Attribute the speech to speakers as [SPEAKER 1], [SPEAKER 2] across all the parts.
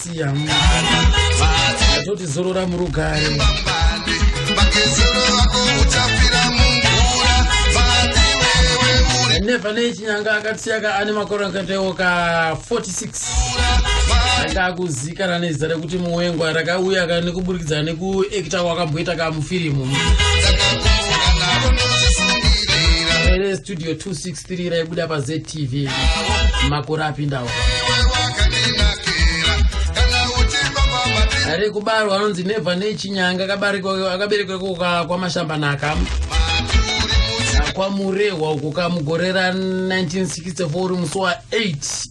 [SPEAKER 1] siya atoti zorora murugare nepane chinyanga akatisiyaka ane makore akatewo ka 46 anga akuzikana nezita rekuti muwengwa rakauya ka nekuburikidza nekuekta kwakamboita ka mufirimu studio 26 sirira ibuda pa ztv makore apindawo ari kubarwa anonzi nevha nechinyanga akaberekwa kuka kwamashambanaka kwamurehwa uko kamugore ra 1964 uri musi wa 8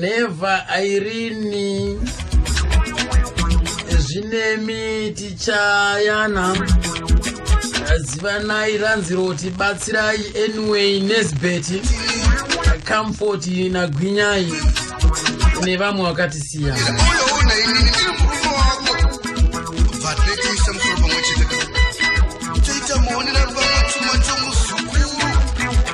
[SPEAKER 1] never irini zvinemi tichayana zivanai ranzi roti batsirai anyway nesbet comfort nagwinyai nevamwe vakatisiya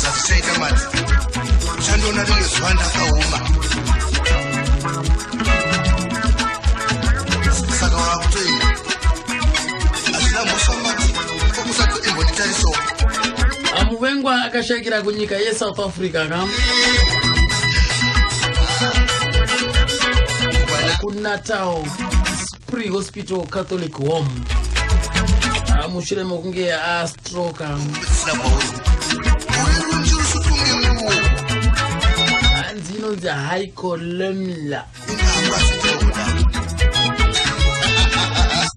[SPEAKER 1] zvazichaita mati uchandiona rimwe zuva ndakaoma saka wakutoenda hazvina mhosva mati kokusati imbonditarisawo amuvengwa akashakira kunyika yesouth africa ka kunatal Pre-hospital Catholic Home ah, mushure mokunge astroka hanzi inonzi hycolomla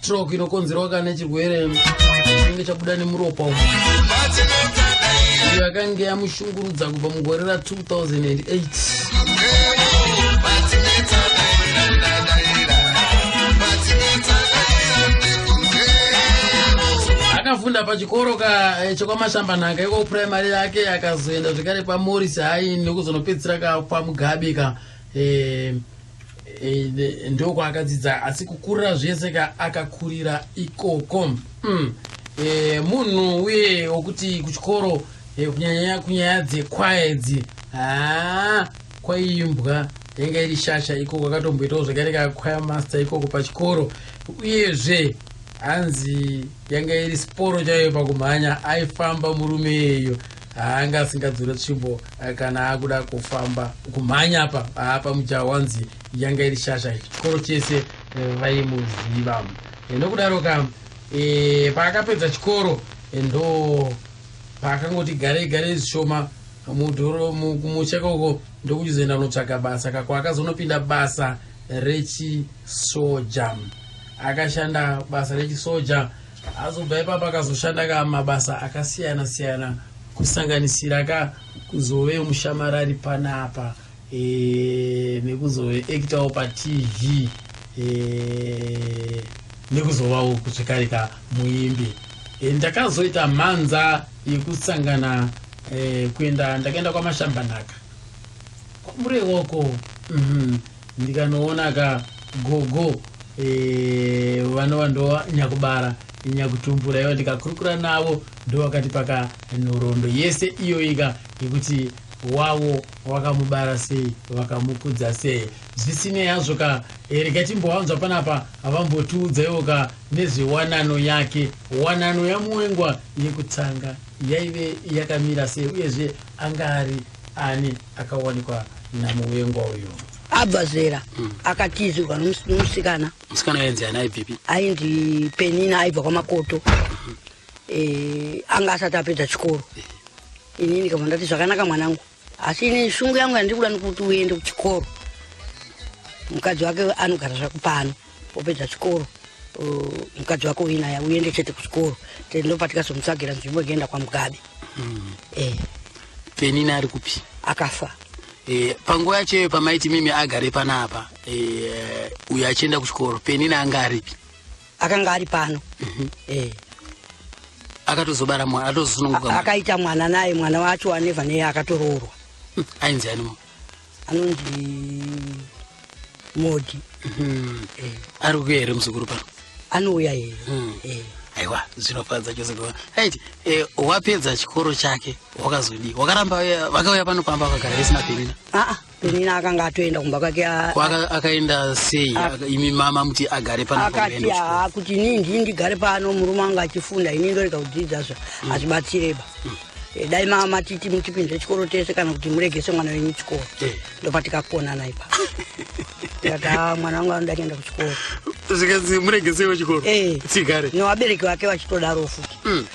[SPEAKER 1] stroke inokonzerwa kana chirwere chinenge chabuda nemuropa umo iyo yakange yamush Tungurudza kubva mugore ra 2008. Akafunda pachikoro ka eh, chekwaMashambanhaka iko primary yake akazoenda zvekare kwaMorris High ndokuzonopedzisira ka kwaMugabe ka Eh, eh, ndokwaakadzidza asi kukurira zvese ka akakurira ikoko mm. e, munhu uye wokuti kuchikoro e, kunyanyanya kunyaya dzekwaya idzi haa kwaiimbwa yanga iri shasha ikoko akatomboitawo zvakare kakwaya master ikoko pachikoro uyezve hanzi yanga iri sporo chaiyo pakumhanya aifamba murume iyeyo haanga asingadzore tsvimbo eh, kana akuda kufamba kumhanya apa apa mujaho wanzi yanga iri shasha chikoro chese eh, vaimuziva eh, nokudaro ka e, paakapedza chikoro ndo paakangoti garei garei zvishoma mudhoro kumusha koko ndokuchizoenda kunotsvaga basa kako akazonopinda basa rechisoja akashanda basa rechisoja Azobva ipapa akazoshanda ka mabasa akasiyana siyana kusanganisira ka kuzove mushamarari panapa e, nekuzove ekitawo patv e, nekuzovawo zvekare ka muimbi e, ndakazoita mhanza yekusangana e, kuenda ndakaenda kwamashambanaka kwamurewoko mm -hmm. Ndikanoona ka gogo eh, vanova ndo nyakubara nyakutumbura iva ndikakurukura navo ndovakati paka nhorondo yese iyoika yekuti wavo wakamubara sei vakamukudza sei zvisinei hazvo ka eh, rega timbowanzwa panapa havambotiudzaiwo ka nezvewanano yake wanano yamuwengwa yekutanga yaive yakamira sei uyezve anga ari Ani akawanikwa namuvengwa uyo? Abva zera
[SPEAKER 2] mm. akatizirwa nomusikana. Musikana ainzi ani
[SPEAKER 1] aibvipi? Ainzi
[SPEAKER 2] Penina aibva kwaMakoto. Mm -hmm. e, anga asati apedza chikoro. Eh. Ini ndikabva ndati zvakanaka mwanangu. Asi ini shungu yangu yandiri kuda nekuti uende kuchikoro. Mukadzi wake anogara zvakupano. wopedza chikoro mukadzi wako uinaye uende chete kuchikoro ndopatikazomutsvagira nzvimbo inoenda kwamugabe
[SPEAKER 1] mm.
[SPEAKER 2] eh. penini ari kupi
[SPEAKER 1] akafa eh, panguva yacho iyoyo pamaiti mimi agare panapa eh, uyo achienda kuchikoro penini anga aripi akanga ari
[SPEAKER 2] pano mhm.
[SPEAKER 1] akatozobara mwana atozosununguka akaita mwana naye
[SPEAKER 2] mwana wacho aneva neye akatoroorwa hmm, ainzi animo
[SPEAKER 1] anonzi
[SPEAKER 2] modi hmm.
[SPEAKER 1] eh. ari kuya here muzukuru pano anouya here hmm.
[SPEAKER 2] eh. aiwa
[SPEAKER 1] zvinofadza chose kuva ait eh, wapedza chikoro chake wakazodii wakaramba vakauya pano pamba vakagara isina penina aa penina akanga
[SPEAKER 2] atoenda kumba kwake akaenda
[SPEAKER 1] sei imi mama muti agare pano akati haa kuti
[SPEAKER 2] nii ndii ndigare pano murume anga achifunda ini ndorega kudzidza zva hazvibatsireba hmm. Eh, dai mama matiti mutipinze chikoro tese kana kuti muregese mwana wenyu chikoro eh. ndopa tikakonana ipa ati ah, mwana wangu anoda kuenda kuchikoro zvikanzi
[SPEAKER 1] muregesewo chikoro eh. tsigare nevabereki vake
[SPEAKER 2] vachitodaro futi hmm.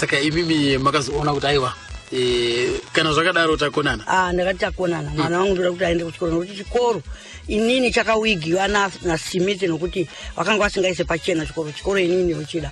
[SPEAKER 1] saka imimi makazoona kuti aiwa kana zvakadaro takonana ah, ndakati takonana hmm.
[SPEAKER 2] mwana wangu ndoda kuti aende kuchikoro nokuti chikoro inini chakawigiwa nasimiti nokuti vakanga vasingaise pachena chikoro chikoro inini yochida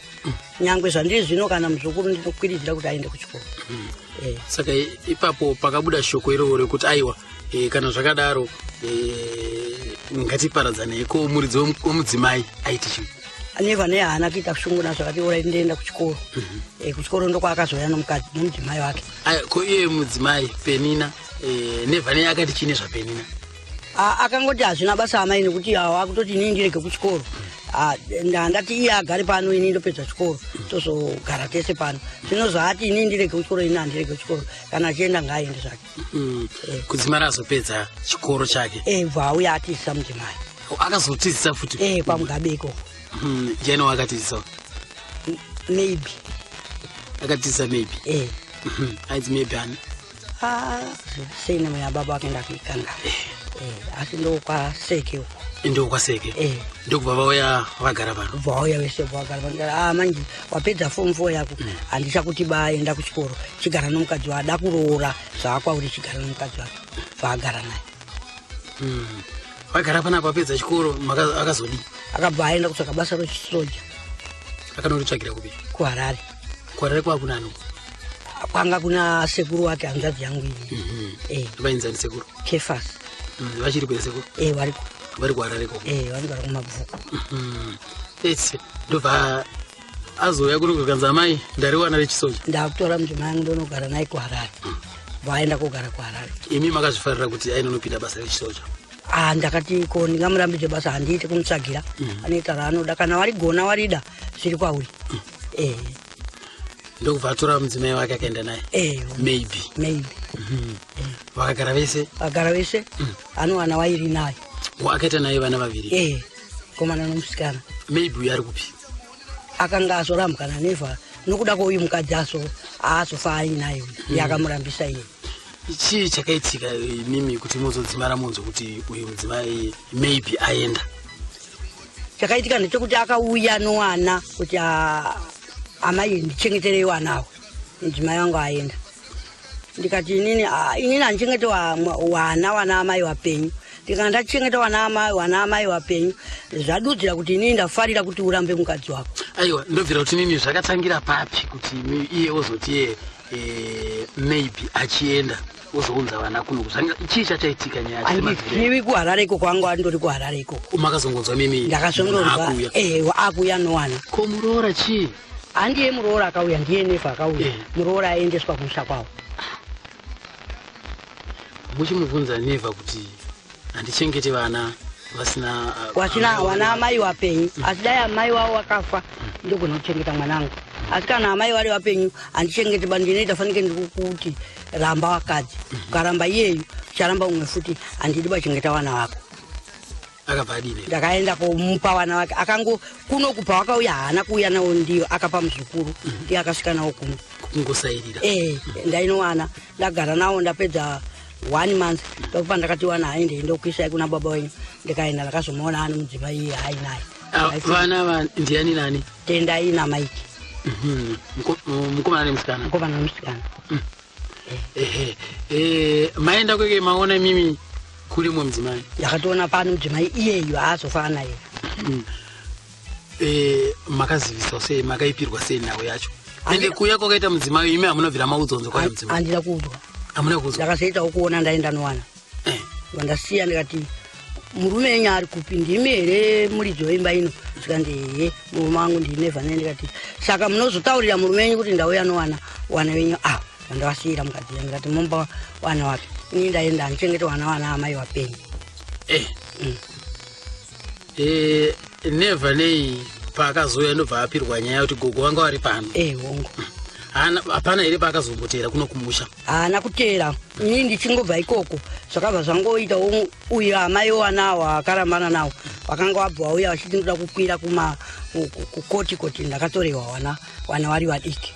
[SPEAKER 2] nyangwe zvandiri zvino kana muzukuru ndinokwiridzira kuti aende kuchikoro mm. eh. saka
[SPEAKER 1] ipapo pakabuda shoko irovo rekuti aiwa eh, kana zvakadaro eh, ngatiparadzanei ko muridzi wemudzimai aiti chii aneva ne haana
[SPEAKER 2] kuita kushunguna zvakati ora ndoenda kuchikoro mhm. eh, kuchikoro ndokwaakazoya nomukadzi nomudzimai wake ko iye
[SPEAKER 1] mudzimai penina eh, nevane akati chine zvapenina akangoti
[SPEAKER 2] hazvina basa amai nekuti wakutoti inini ndirege kuchikoro ndati iye agare pano ini ndopedza chikoro tozogara tese pano zvino zvaati ini ndirege kuchikoro ini handirege kuchikoro kana achienda ngaaende zvake mm. eh. kudzimara azopedza
[SPEAKER 1] chikoro chake e bva auya atizisa
[SPEAKER 2] mudzimai oh, akazotizisa
[SPEAKER 1] futi e kwamugabe ikoko
[SPEAKER 2] mm, jani
[SPEAKER 1] waakatizisa
[SPEAKER 2] maybe
[SPEAKER 1] akatizisa maybe e aizi maybe ani Ah,
[SPEAKER 2] sei nemwe yababa vakaenda kuikanga eh, asi ndokwaseke uko ndokwaseke eh.
[SPEAKER 1] ndokubva vauya vagara pano bva vauya vese vagara
[SPEAKER 2] pano a ah, manje wapedza fomu fo yako mm. handisa kuti baenda kuchikoro chigara nomukadzi wa ada kuroora zvaakwauri chigara nomukadzi wake vaagara naye mm. vagara
[SPEAKER 1] pana kwapedza chikoro akazodii akabva aenda
[SPEAKER 2] kutsvaka basa rochisoja akanoritsvagira
[SPEAKER 1] kupi kuharare
[SPEAKER 2] kwarare kwakunani
[SPEAKER 1] kwanga
[SPEAKER 2] kuna sekuru wake hanzvadzi yangu iyi mhm. eh. vainzani sekuru
[SPEAKER 1] kefas
[SPEAKER 2] mm, vachiri kwe
[SPEAKER 1] sekuru eh, variko vari
[SPEAKER 2] kwarare ko
[SPEAKER 1] eh, vari kwarare kumabvuku
[SPEAKER 2] mhm. ese ndobva
[SPEAKER 1] azouya kuno kukanzi amai ndariwana rechisoja ndakutora mujoma yangu
[SPEAKER 2] ndonogara naye kuharare mm. vaenda kogara kuharare imi makazvifarira
[SPEAKER 1] kuti ainonopinda basa rechisoja Ah, ndakati
[SPEAKER 2] ko ndingamurambidze basa handiite kumutsvagira mm. anoita raanoda kana warigona warida zviri kwauri mm. eh
[SPEAKER 1] ndokubva atora mudzimai wake akaenda naye eh, maybe maybe mhm. eh. vakagara vese vagara vese mm. ane vana vairi
[SPEAKER 2] naye akaita naye vana
[SPEAKER 1] vaviri eh, komana
[SPEAKER 2] nomusikana maybe uyo ari kupi
[SPEAKER 1] akanga
[SPEAKER 2] azorambwana neva nokuda kwouyu mukadzi aso aazofa ainaye mm. yakamurambisa iye chii
[SPEAKER 1] chakaitika imimi kuti mozodzimara monzo kuti uyu mudzimai maybe aenda
[SPEAKER 2] chakaitika ndechekuti akauya nowana kuti ah, amai ndichengeterei wana awo mudzimai wangu aenda ndikati inini ah, inini handichengete wana wana amai wapenyu ndikana ndachengeta wana amai wana amai wapenyu zvadudzira kuti inini ndafarira kuti urambe mukadzi wako aiwa ndobvira kuti inini
[SPEAKER 1] zvakatangira papi kuti iye ozoti yee Eh, maybe achienda ozounza vana kuno chii chachaitika nyayaiwi kuharare
[SPEAKER 2] ikoko anga andori kuharare ikoko makazongonzwa mimi
[SPEAKER 1] ndakazongonzwa
[SPEAKER 2] eh, akuya nowana ko muroora chii
[SPEAKER 1] handiye muroora
[SPEAKER 2] akauya ndiye nefa akauya eh. muroora aendeswa kumusha kwavo
[SPEAKER 1] muchimubvunza neva kuti handichengeti vana vasina uh, wasina amai wana wavo. amai
[SPEAKER 2] wapenyu asi dai amai wavo wakafa ndogona kuchengeta mwana wangu asi kana amai vari vapenyu handichengete bani ndinoita fanike ndiri kuti ramba wakadzi ukaramba iyeyu ucharamba umwe futi handidi bachengeta vana vako akabva
[SPEAKER 1] adini ndakaenda komupa
[SPEAKER 2] vana vake akango kuno kubva wakauya haana kuuya nawo ndiyo akapa muzukuru ndiye akasvika nawo kuno kungosairira eh
[SPEAKER 1] ndainowana
[SPEAKER 2] ndagara nawo ndapedza one month ndokupa ndakati wana haende ndokuisai kuna baba wenyu ndikaenda ndakazomuona ani mudzimai iye hai naye ah, vana va
[SPEAKER 1] ndiani nani tendai na mike
[SPEAKER 2] mhm.
[SPEAKER 1] mukomana nemusikana mukomana nemusikana
[SPEAKER 2] mm.
[SPEAKER 1] ehe eh, maenda kweke maona mimi kuli mwe mudzimai ndakatoona pano mudzimai
[SPEAKER 2] iyeyu haazofa naye mm. eh,
[SPEAKER 1] makaziviswa sei makaipirwa sei nhau yacho ende
[SPEAKER 2] kuya
[SPEAKER 1] kwakaita mudzimai imi hamuna bvira maudzwa nzwa kwayo mudzimai handina kuudzwa hamuna kuudzwa ndakazoitawo kuona ndaenda
[SPEAKER 2] nowana eh. vandasiya ndikati murume enyu ari kupi ndimi here muridzi weimba ino zvikanzi hee murume wangu ndine vane ndikati saka munozotaurira murume wenyu kuti ndauya nowana wana venyu ava ah, vandavasiyira mukadzi yangu ndikati mumba wana wapi ini ndaenda handichengete wana wana amai wapenyu eh. mm. eh,
[SPEAKER 1] neva nei paakazouya ndobva apirwa nyaya kuti gogo vanga vari pano eh, hongu
[SPEAKER 2] hapana
[SPEAKER 1] here paakazombotera kuno kumusha haana kutera
[SPEAKER 2] ini ndichingobva ikoko zvakabva zvangoita uyo amai wanawo akarambana nawo vakanga vabva vauya vachiti ndoda kukwira kukoti koti ndakatorewa wana wana vari vadiki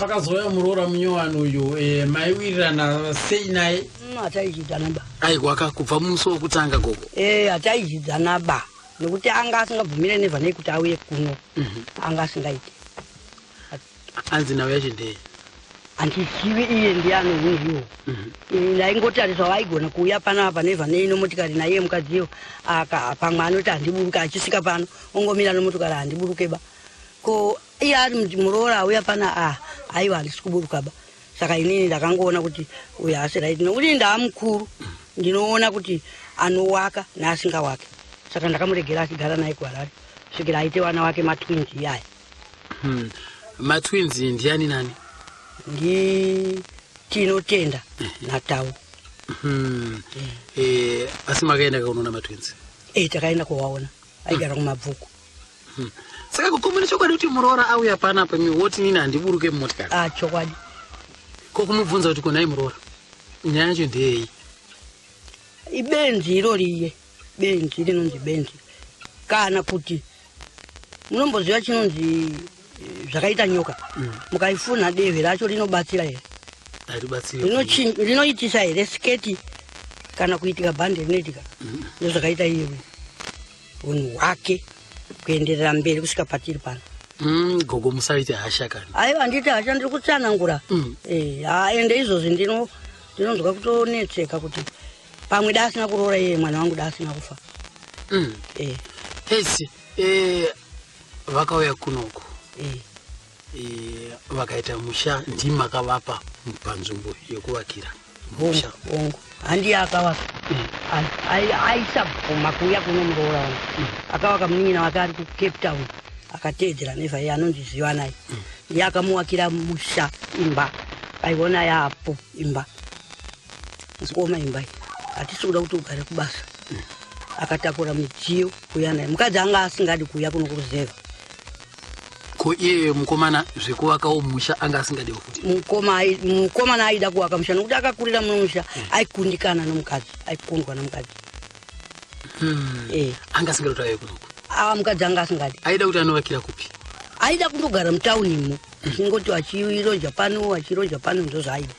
[SPEAKER 1] pakazouya muroora munyowani uyu eh, maiwirirana sei naye mm, hataizvidzana ba
[SPEAKER 2] aiwaka kubva musi
[SPEAKER 1] wokutanga gogo eh, hataizvidzana
[SPEAKER 2] ba nokuti anga asingabvumire nevanei kuti auye kuno mhm. anga asingaiti
[SPEAKER 1] anzi nhau yacho ndei handizivi
[SPEAKER 2] iye ndiye anohunhiwo mhm. eh, ndaingotariswa vaigona kuuya pano apa nevanei nomotikari naiye mukadziyo aka pamwe anoti handiburuke achisvika pano ongomira nomotikari handiburuke ba ko iye ari muroora auya pana a aiwa handisi kuburuka ba saka inini ndakangoona kuti uyo haasi right nokuti ndaa mukuru ndinoona kuti anowaka neasinga wake saka ndakamuregera achigara naye kuharare svikira aite vana wake matwins iyaya hmm. matwins
[SPEAKER 1] ndiani nani ndi
[SPEAKER 2] tinotenda eh. natau hmm.
[SPEAKER 1] eh, asi makaenda kakunoona matwins e eh, takaenda kuwaona
[SPEAKER 2] aigara kumabvuku Hmm.
[SPEAKER 1] Saka kukomba nechokwadi kuti muroora auya pana pamwe woti nini handiburuke mumotikari. Ah, chokwadi.
[SPEAKER 2] Ko kumubvunza
[SPEAKER 1] kuti konai muroora. Nyaya yacho ndeyei?
[SPEAKER 2] Ibenzi iro riye. Benzi rinonzi benzi. Kana kuti munomboziva chinonzi eh, zvakaita nyoka. Hmm. Mukaifuna dehwe racho rinobatsira here? rinoitisa here sketi kana kuitika bhande rinoitika ndozvakaita iyewe hunhu hwake kuenderera mberi kusvika patiri pano mm, gogo
[SPEAKER 1] musaite hasha kana aiwa handiti hasha ndiri
[SPEAKER 2] kutsanangura mm. e, ende izvozvi ndino ndinonzwa kutonetseka kuti pamwe da asina kuroora iye mwana wangu da asina kufa mm. e.
[SPEAKER 1] esi e, vakauya kunoku e. Eh, vakaita musha ndimi makavapa panzvimbo yekuvakira musha hongu handiye
[SPEAKER 2] akavaka aisabvuma kuuya kuno muroora wangu mm. akavaka munin'ina wake ari kucape town akateedzera neva iye anonzi zivanai mm. iye akamuwakira musha imba aiona yaapo imba kuoma imba iyi hatisi kuda kuti ugare kubasa mm. akatakura midziyo kuuya naye mukadzi anga asingadi kuuya kuno kuruzeva
[SPEAKER 1] ko iye mukomana zvekuvakawo musha anga asingadewo futi mukoma ai- mukomana
[SPEAKER 2] aida kuvaka musha nokuti akakurira muno musha aikundikana nomukadzi aikundwa nomukadzi Hmm.
[SPEAKER 1] Eh. anga asingada kuti auye kunoku aa mukadzi anga
[SPEAKER 2] asingadi aida kuti anovakira kupi
[SPEAKER 1] aida kundogara
[SPEAKER 2] mutaunimo achingoti achiroja pano achiroja pano ndozvaaida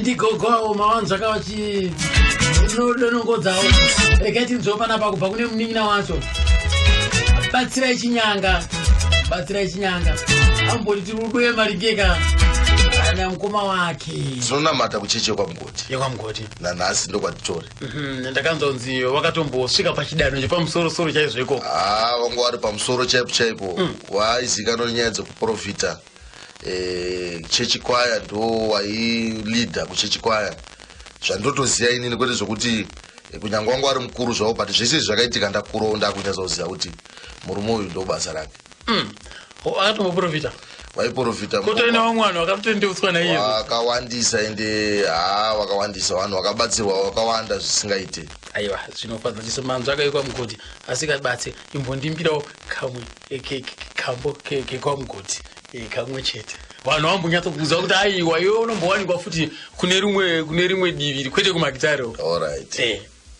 [SPEAKER 1] ndigogo avo mawanzvaka vachi donongodzawo regai tinzwewo panapa kubva kune munin'ina wacho batsirai chinyanga batsirai chinyanga amboti tiri kuduye maringeka kana mukoma wake tinonamata kucheche
[SPEAKER 3] kwamugoti yekwamugoti
[SPEAKER 1] nanhasi
[SPEAKER 3] ndokwatitori Mhm, ndakanzonzi
[SPEAKER 1] wakatombosvika pachidanho chepamusorosoro chaizvo ikoko haa vanga wari pamusoro
[SPEAKER 3] chaipo chaipo mm. waaizikanwa nenyaya dzekuprofita eh, chechi kwaya ndo wailidha kuchechi kwaya zvandotoziva inini kwete zvokuti eh, kunyange wanga wari mukuru zvavo but zvese izvi zvakaitika ndakurawo ndakunyatsa kuziva kuti murume uyu ndobasa rake Umm akatova muporofita vaiporofita kotove nevamwe vanhu
[SPEAKER 1] vakatotendeutswa naiye vakawandisa ende
[SPEAKER 3] haa vakawandisa vanhu vakabatsirwa vakawanda zvisingaite aiwa zvinofadza
[SPEAKER 1] chiso manzvi akaikwa mugoti asikabatse imbondimbirawo kamwe kambo kekwamugoti e, kamwe chete vanhu vambonyatsokuudza kuti aiwa iwe unombowanikwa futi kune rimwe kune rimwe divi kwete kumakitari orit e. Eh.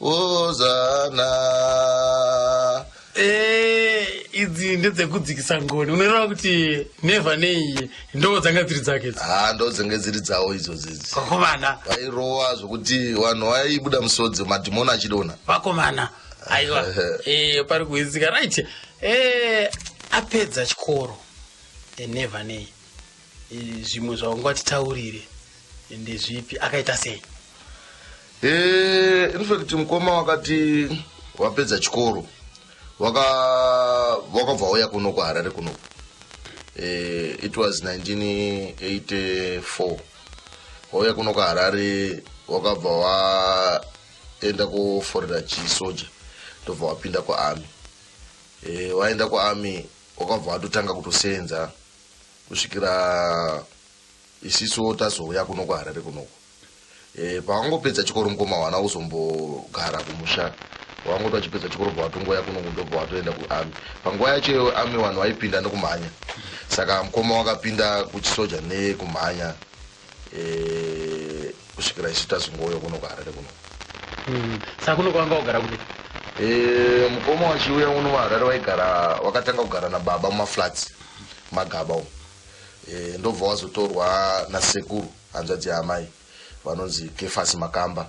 [SPEAKER 3] Hozana. Eh,
[SPEAKER 1] idzi ndedzekudzikisa ngoni unoreva kuti nevha neiye ndoo dzanga dziri dzake idzi ha ndo dzenge dziri
[SPEAKER 3] dzawo idzo dzidzi vakomana vairowa
[SPEAKER 1] zvokuti
[SPEAKER 3] vanhu vaibuda musodzi madhimoni achidona vakomana
[SPEAKER 1] aiwa eh, pari kuhwisika right eh, apedza chikoro enevha neiye Eh, zvimwe zvaunga titaurire ndezvipi akaita sei eh,
[SPEAKER 3] infact mukoma wakati wapedza chikoro wakabva uya kuno kuharare kuno eh, it was 1984 wauya kuno kuharare wakabva waenda kuforera chisoja ndobva wapinda kuarmy waenda kuarmy wakabva watotanga kutosenza kusvikira isiso tazouya kuno kuharare kunoko e, eh, pawangopedza chikoro mukoma wana uzombogara kumusha wangoti wachipedza chikoro bva watongoya kuno kundobva watoenda kuami panguva yacho iyo ami vanhu vaipinda nekumhanya saka mukoma wakapinda kuchisoja nekumhanya eh, kusvikira isu tazongouya kuno kuharare kuno hmm,
[SPEAKER 1] saka kuno kwanga wagara kupi eh,
[SPEAKER 3] mukoma wachiuya uno vaharare waigara wakatanga kugara nababa mumaflats magaba umo eh, ndobva wazotorwa nasekuru hanzvadzi yaamai vanonzi kefasi makamba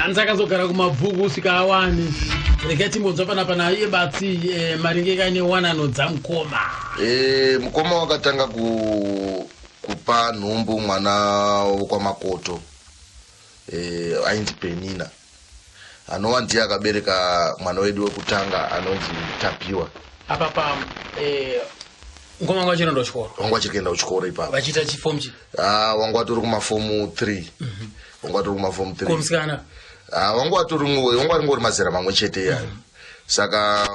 [SPEAKER 1] hanzi akazogara kumabvuku usika awani rega timbonzwa panapa naiye batsi eh, maringe kaine wanano dzamukoma e, mukoma
[SPEAKER 3] wakatanga ku, kupa nhumbu mwana wokwamakoto e, ainzi penina anova ndiye akabereka mwana wedu wekutanga anonzi tapiwa apa pa
[SPEAKER 1] eh, ngoma wanga wachirenda kuchikoro wanga wachiri kuenda kuchikoro
[SPEAKER 3] ipapo vachiita chifomu chi
[SPEAKER 1] Ah, wanga watori
[SPEAKER 3] kumafomu 3 wanga watori kumafomu 3 komusikana
[SPEAKER 1] Ah, wanga watori
[SPEAKER 3] ngo- wanga waringori mazera mamwe chete iyayo saka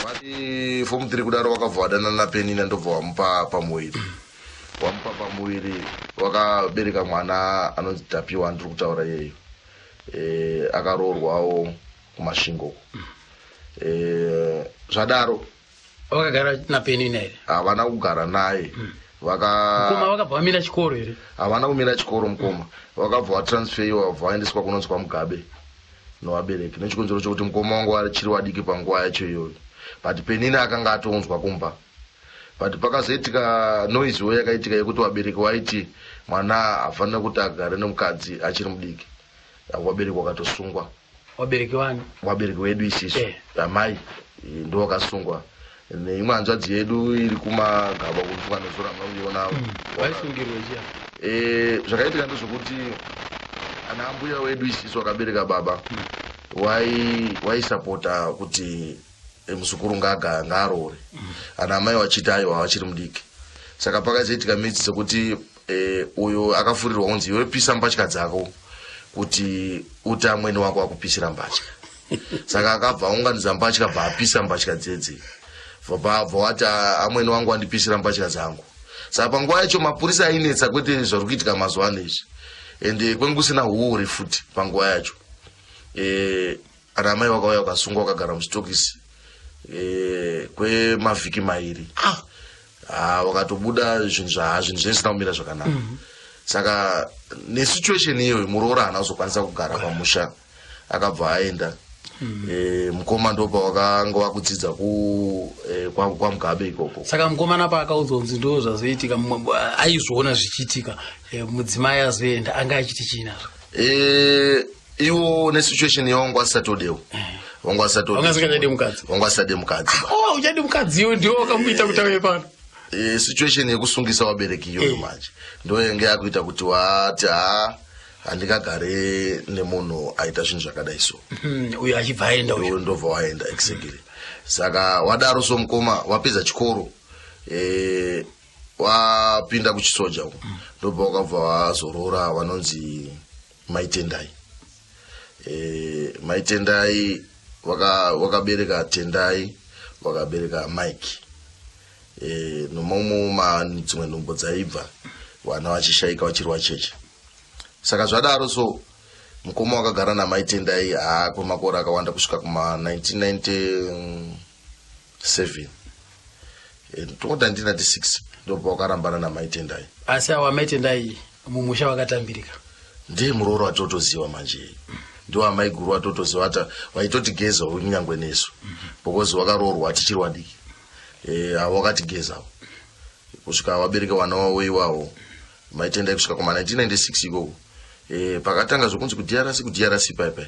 [SPEAKER 3] vati fomu 3 kudaro wakabva wadanana napenina ndobva wamupa pamuviri wamupa pamuviri wakabereka mwana anonzi tapiwa andiri kutaura iyeyo eh, akaroorwawo kumashingo uko eh, zvadaro vakagara
[SPEAKER 1] napeni naye havana kugara naye
[SPEAKER 3] mukoma vaka
[SPEAKER 1] vakabva vamira chikoro here havana kumira chikoro
[SPEAKER 3] mukoma vakabva vatransferiwa vabva vaendeswa kunonzi kwamugabe novabereki nechikonzero chokuti mukoma wangu achiri wadiki panguva yacho iyoyo but penina akanga atonzwa kumba but pakazoitika noise wo yakaitika yekuti vabereki waiti mwana hafanira kuti agare nemukadzi achiri mudiki vabereki wakatosungwa vabereki
[SPEAKER 1] vani vabereki wedu isisu
[SPEAKER 3] eh. amai eh, ndo wakasungwa neimwe hanzvadzi yedu iri kumagaba kufunga nezora mauiona hmm. vaisungirwa
[SPEAKER 1] chia eh, zvakaitika ndezvekuti
[SPEAKER 3] ana ambuya wedu isisu akabereka baba hmm. waisapota kuti Eh, muzukuru ngaagaya ngaaroore ana amai vachiti aiwa vachiri mudiki saka pakazoitika midzi dzekuti eh, uyo akafurirwa unzi iwe pisa mbatya dzako kuti uti amweni wako akupisira mbatya saka akabva aunganidza mbatya bva apisa mbatya dzedzi vabva wati "Ah, amweni wangu andipisira mbatya dzangu saka panguva yacho mapurisa ainetsa kwete zvari kuitika mazuva ano izvi ende kwenge kusina huori futi panguva yacho eh, Kana amai vakauya vakasungwa vakagara musitokisi eh, kwemavhiki mairi ah, ah, vakatobuda zvinhu zvaha zvinhu zvaisina kumira zvakanaka mhm. saka nesituation iyoyo muroora haana kuzokwanisa kugara pamusha akabva aenda mhm. eh, mukoma ndopa wakanga wakudzidza eh, kwamugabe ikoko saka mukomana paakaudzwa
[SPEAKER 1] kunzi ndo zvazoitika aizviona zvichiitika mudzimai azoenda anga achiti chiinazvo
[SPEAKER 3] iwo nesituation yawo wangu asatodewo wangu asatodewangasingachadi mukadzi
[SPEAKER 1] wangu asade mukadzi
[SPEAKER 3] oh, uchadi mukadzi
[SPEAKER 1] iwe ndiwo wakamuita kuti auye pano e, situation
[SPEAKER 3] yekusungisa wabereki iyoyo eh. manje ndo yenge yakuita kuti wati ha handingagare nemunhu aita zvinhu zvakadai so hmm, uyo achibva aenda
[SPEAKER 1] uyo ndobva waenda
[SPEAKER 3] exactly saka wadaro so mukoma wapedza chikoro e, wapinda kuchisoja uko hmm. ndobva wakabva wazorora wanonzi mai tendai e, mai tendai wakabereka waka tendai wakabereka mike e, nomamwe dzimwe nhumbo dzaibva vana vachishaika vachirwa cheche saka zvadaro so mukoma wakagara namai tendai haa kwemakore akawanda kusvika kuma 1990 seven and tongoda 1996 ndopa wakarambana namai tendai asi awa mai
[SPEAKER 1] tendai mumusha wakatambirika ndiye muroora
[SPEAKER 3] watotoziva manje ndiwo amai guru watotoziva ati vaitotigeza kunyangwe nesu because wakaroorwa tichiri wadiki e, avo wakatigezawo kusvika wabereka wana wavo iwawo mai tendai kusvika kuma 1996 ikoko e, pakatanga zvokunzi kudrc kudrc paipai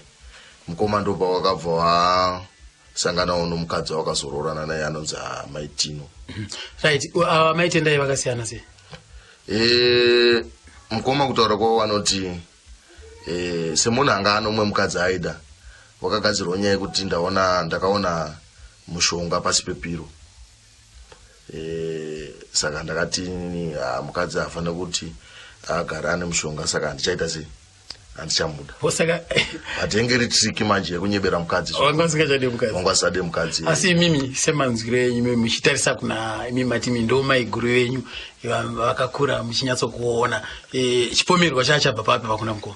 [SPEAKER 3] mukoma ndopa wakabva wa sanganawo nomukadzi wakazoroorana naye anonzi amaitino right
[SPEAKER 1] uh, maitendai vakasiyana se e,
[SPEAKER 3] mukoma kutaura kwavo vanoti e, semunhu anga anomwe mukadzi aida wakagadzirwa nyaya yekuti ndaona ndakaona mushonga pasi pepiro e, saka ndakati ah, mukadzi hafane kuti agara ane mushonga saka handichaita sei handichamuda osaka
[SPEAKER 1] but yenge iri
[SPEAKER 3] triki manje yekunyebera mukadzi wanga usingachade mukadzi
[SPEAKER 1] wanga usade mukadzi
[SPEAKER 3] asi imimi
[SPEAKER 1] semanzwiro enyu mimi muchitarisa kuna imi mati mi ndo maiguru venyu vakakura muchinyatsokuona e, chipomerwa chaachabva papi pakuna mukoma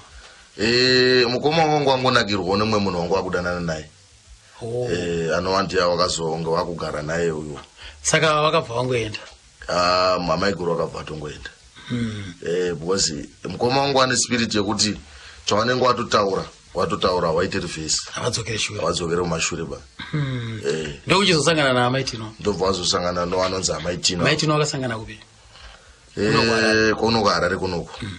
[SPEAKER 1] e,
[SPEAKER 3] mukoma wangu wangonakirwawo nemwe munhu wangu wakudanana naye oh. e, anovandiya wakazonge wakugara naye uyo saka wakabva
[SPEAKER 1] wangoenda Ah, mamaiguru
[SPEAKER 3] vakabva vatongoenda hmm. eh, because mukoma wangu ane spirit yekuti chawanenge watotaura watotaura waite revhesi avadzokere shure avadzokere kumashure ba hmm. eh.
[SPEAKER 1] ndokuchizosangana naamaitino ndobva wazosangana
[SPEAKER 3] noanonzi amaitino amaitino akasangana kupi
[SPEAKER 1] eh, kunoku
[SPEAKER 3] harare kunoku hmm.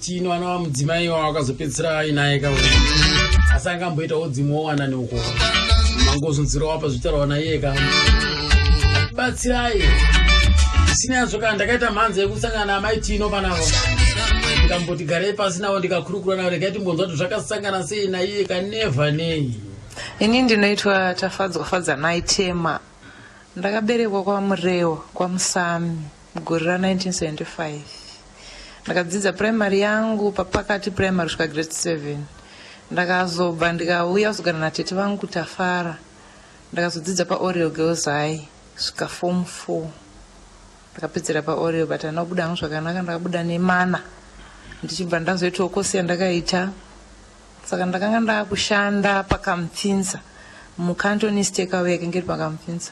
[SPEAKER 1] tino anova mudzimai wavo akazopedzisira ainaye ka asi anga amboita udzimu wowanani uko mangozunziro wapa zvitaurwa naiye ka batsirai zvisina yazvo kana ndakaita mhanza yekusangana naamai tino panavo ndikamboti garei pasi navo ndikakurukura navo regai timbonzwa kuti zvakasangana sei naiye ka neva nei ini ndinoitwa
[SPEAKER 4] tafadzwa fadzanai tema ndakaberekwa kwamurewa kwamusami Mugore ra 1975 ndakadzidza primary yangu papakati primary kusvika grade 7 ndakazobva ndikauya kuzogara natete vangu kutafara ndakazodzidza paoriel girls high svika form 4 ndakapedzera paoriel but andina kubuda hangu zvakanaka ndakabuda nemana ndichibva ndazoitawo kosi yandakaita saka ndakanga ndakushanda pakamupfinza mucantonistekawe yakenge iri pakamupfinza